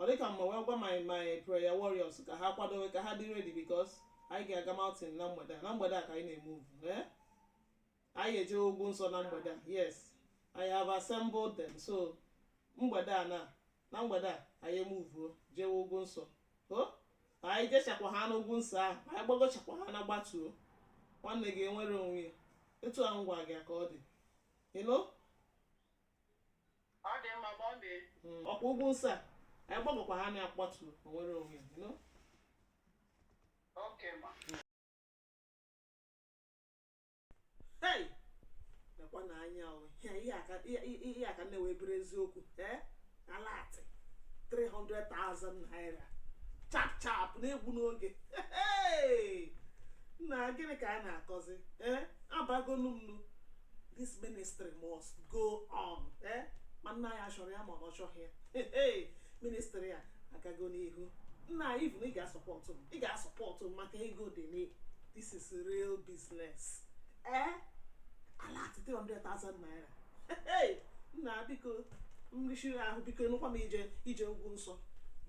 ọ dịka mma wee gwa my my prayer warriors ka ha kwadowe ka ha dị ready because anyị ga-aga mountain na mgbede a na mgbede a ka anyị na-emuvu ee anyị eje ugwu nsọ na mgbede a yes I have assembled them so mgbede a na na mgbede a anyị emuvuo jewe ugwu nsọ o anyị jechakwa ha n'ugwu nsọ ahụ anyị gbagochakwa ha na gbatuo nwanne gị enwere onwe ya etu a ngwa gị ka ọ dị ịnụ Ọ dị mma ma ọ mee. ọkwa ugwu nsọ a anyị gbagokwa ha na agbatu o nwere onwe ya, you know? Oke ma. Hey! Lekwa na anya o ihe ihe aka ihe- ihe ihe aka nne wee bụrụ eziokwu ee alert 300,000 naira chap chap na-egbu n'oge Hey! nna gịnị ka a na-akọzi ee abagonu m nu this ministry must go on eh? ma nna anyị achọrọ ya ma ọ chọghị ya Hey, hey, ministry a agago n'ihu nna anyị bụ na ị ga-asọpọtụ m ị ga-asọpọtụ m maka ego dị n'ihe a this is real business eh? alert 300,000 naira Hey, nna biko m richie ahụ biko anụkwa m ije ije ugwu nsọ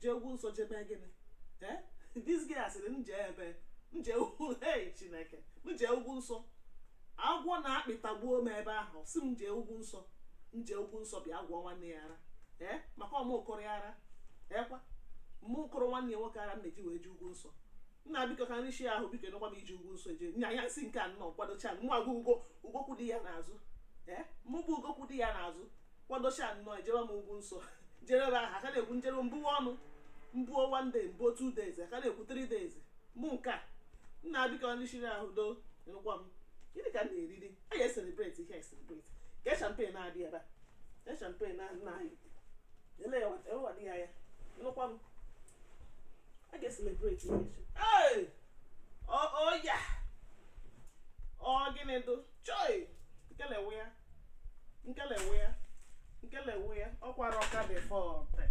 jee ugwu nsọ jebe gịnị Eh? this guy sịrị m jee ebe m jee ugwu hey chineke m jee ugwu nsọ agwọ na akpị atagbuo m ebe ahụ si m jee ugwu nsọ m jee ugwu nsọ bịa gwọọ nwanne ya ara ee maka ọ mụ kụrụ ya ara ọkwa mụ kụrụ nwanne ya nwoke ara m na-eji wee jee ugwu nsọ nna biko ka m richie ahụ biko anụkwa m ije ugwu nsọ eje nya ya si nke a nnọọ kwadocha nwa gị ugo kwụdo ya n'azụ ee mụ bụ ugo kwụdo ya n'azụ kwadocha nnọọ ejebe m ugwu nsọ jee ebe ahụ a ka na-ekwu m jee m buwe ọnụ m buo one day m buo two days a ka na-ekwu three days mụ nke a nna biko ka m richie ahụ do anụkwa m gịnị ka m na-eriri a ya eselebreti ihe eselebreti ka champagne na-adị ebe a ka champagne na nna anyị ele ya ewa dị ya ya nụkwa m a ga-eselebreti ihe echi ee oya ọ gịnị dụ choi kelewe ya nkelewe ya nkelewe ya ọkwa Rocca dei Forti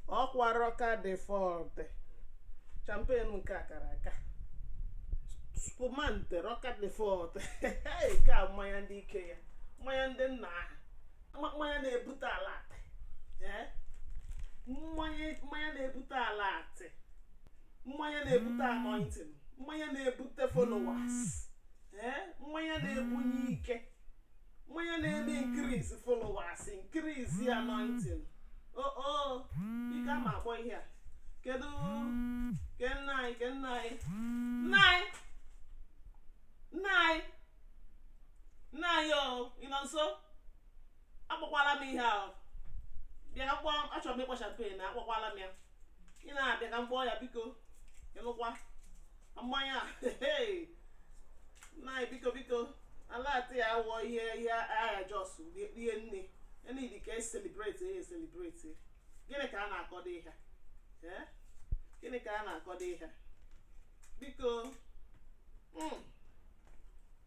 ọkwa Rocca dei Forti champagne nke a kara aka spumante Rocca dei Forti nke a mmanya ndị ike ya mmanya ndị nna aha mma- mmanya na-ebute alert ee mmanya mmanya na-ebute alert mmanya na-ebute anointing mmanya na-ebute followers mmanya na-ebunye ike mmanya na-eme increase followers increase anointing oo ike ama akpọ ihe a kedu ke nna anyị ke nna anyị nna anyị nna anyị nna anyị o ị nọ nso akpọkwala m ihe ahụ bịa kpọọ m achọrọ m ịkpọ champagne na akpọkwala m ya ị na-abịa ka m kpọọ ya biko ịnụkwa mmanya a hey! nna anyị biko biko alatị ya wụọ ihe ihe agha jos rie nne enidi ka e celebrate e celebrate gịnị ka a na-akọdo ihe ee gịnị ka a na-akọdo ihe biko mm,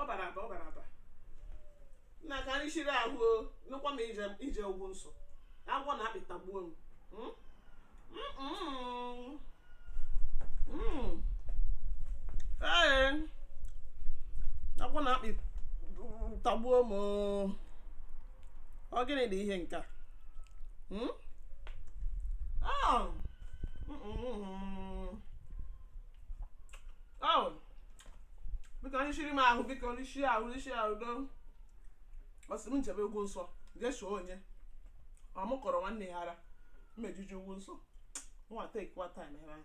ọ bara aba ọ bara aba nna ka anyị chiri ahụ o nụkwa m ije ije ugwu nsọ agwọ na akpị tagbuo m Mm? Mm-mm. Mm. Ee, agwọ na akpị tagbuo m o. ọ gịnị dị ihe nke a Hmm? Oh. Mm-mm. Oh. biko onye chiri m ahụ biko onye chiri ahụ onye chiri ahụ do ọ sị m jebe ugwu nsọ jesuo onye ọ mụ kọrọ nwanne ya ara m eje ije ugwu nsọ nwa take your time ebe ahụ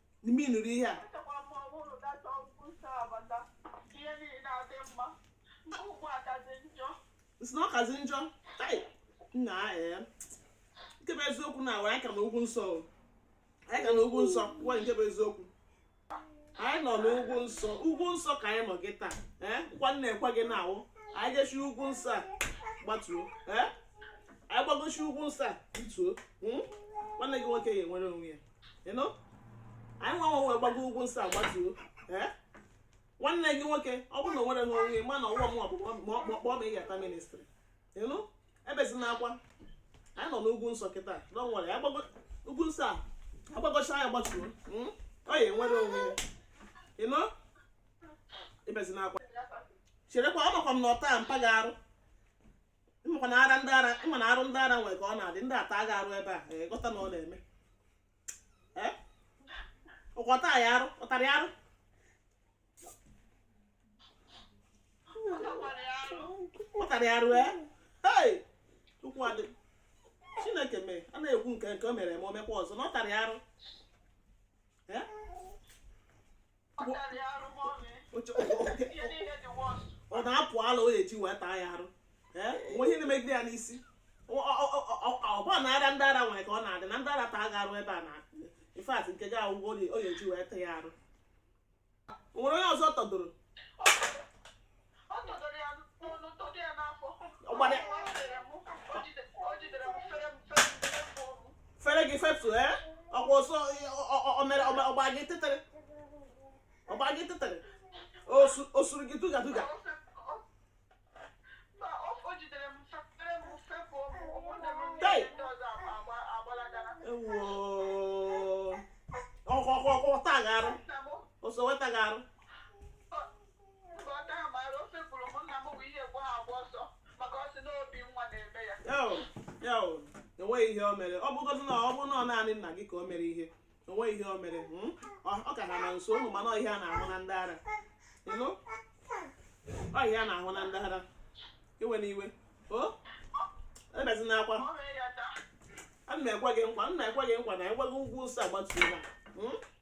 ime nụrụ ihe a Echekwa m na ọ bụrụ data ugwu nsọ a bata ihe niile adị mma nke ugbu a kazi njọ m sị na ọ kazi njọ tai nna ee nke bụ eziokwu na awa anyị ka nọ ugwu nsọ o. anyị ka nọ ugwu nsọ gwa nke bụ eziokwu anyị nọ n'ugwu nsọ ugwu nsọ ka anyị nọ gị taa ee nkwa m na-ekwe gị na awụ anyị jechi ugwu nsọ a gbatuo ee anyị gbagochi ugwu nsọ a rituo mm? nwanne gị nwoke ga-enwere onwe ya anyị nwa nwa wee gbago ugwu nsọ agbatuo eh? nwanne gị nwoke ọ bụrụ na o nwere ha onwe ma na ọwụwa mwa bụ kpọọ ma ị ga-ata ministry ị nụ ebezina akwa anyị nọ n'ugwu nsọ kịta na ọ nwere ugwu nsọ a agbagocha ya gbatuo hmm? ọ ya-enwere onwe ya ị nụ ebezina akwa cherekwa ọ makwa m na ọ ta mpa gị arụ ị makwa na ara ndị ara ị ma na arụ ndị ara nwere ka ọ na-adị ndị ara taa gị arụ ebe a ee, ghọta na ọ na-eme Ee? ọ kwa ọ ta ya arụ ọ tara ya arụ Ọ takwara ya arụ. ọtara ya arụ ee hei chukwu adị chineke m ee a na-ekwu nke nke o mere ma o mekwa ọzọ na ọ tara ya arụ Ee? ọ na-apụ ala o eji wee taa ya arụ nwe ihe na-emegide ya n'isi ọ bụ na arụ ndị ara nwere ka ọ na-adị na ndị ara taa gị arụ ebe a na in fact nke gị agwụgo o eji wee taa ya arụ nwere onye ọzọ ọ tadoro fere gị fepụ ee ọkwa ọsọ o mere ọ gbaa gị tịtịrị ọ gbaa gị tịtịrị o suru gị duga duga ọkwa ọkwa ọkwa ọtagharụ ọsọ wetagharụ enweghị ihe o mere ọ bụgodị na ọ bụ na naanị nna gị ka o mere ihe o nwe ihe o mere hmm? ọ ka ha na nso ụmụ mana ihe a na-ahụ na ndị ara ọ ihe a na-ahụ na ndị ara iwena iwe o ebezina akwa ana m ekwe gị nkwa nna ekwe gị nkwa na ekweghị ugwu nsọ agbatuola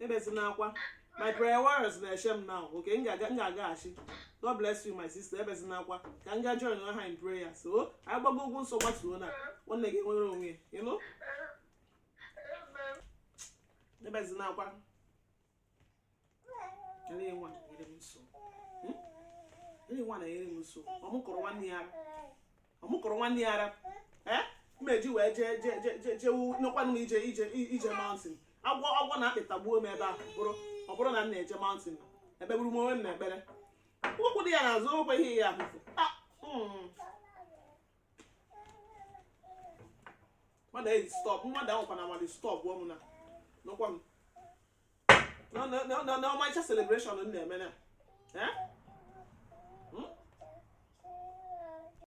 ebezina akwa my prayer warriors na-eche m now okay m ga-agaghachi god bless you my sister ebezina akwa ka m ga join ha in prayer so anyị gbago ugwu nsọ gbatuo na nwanne gị nwere onwe ị nụ ebezina akwa ele nwa na-enyere m nso hmm? ele nwa na-enyere m nso ọ mụ kọrọ nwanne ya ara ọ mụ kọrọ nwanne ya ara eh? m eji wee jee jee jee jee jewu nekwanụ m ije ije ije mountain agwọ agwọ na akpị tagbuo m ebe ahụ bụrụ ọ bụrụ na m na-eje mountain ekpegburu m onwe m na ekpere ụkwụ dị ya n'azụ okwe ihe ya ahụfụ ah, hmm. mmadụ eyi stop mmadụ ahụkwa na amadị stop ọ mụ na nọkwa m na- na- na- na- na ọmarịcha celebration m na-eme na eh?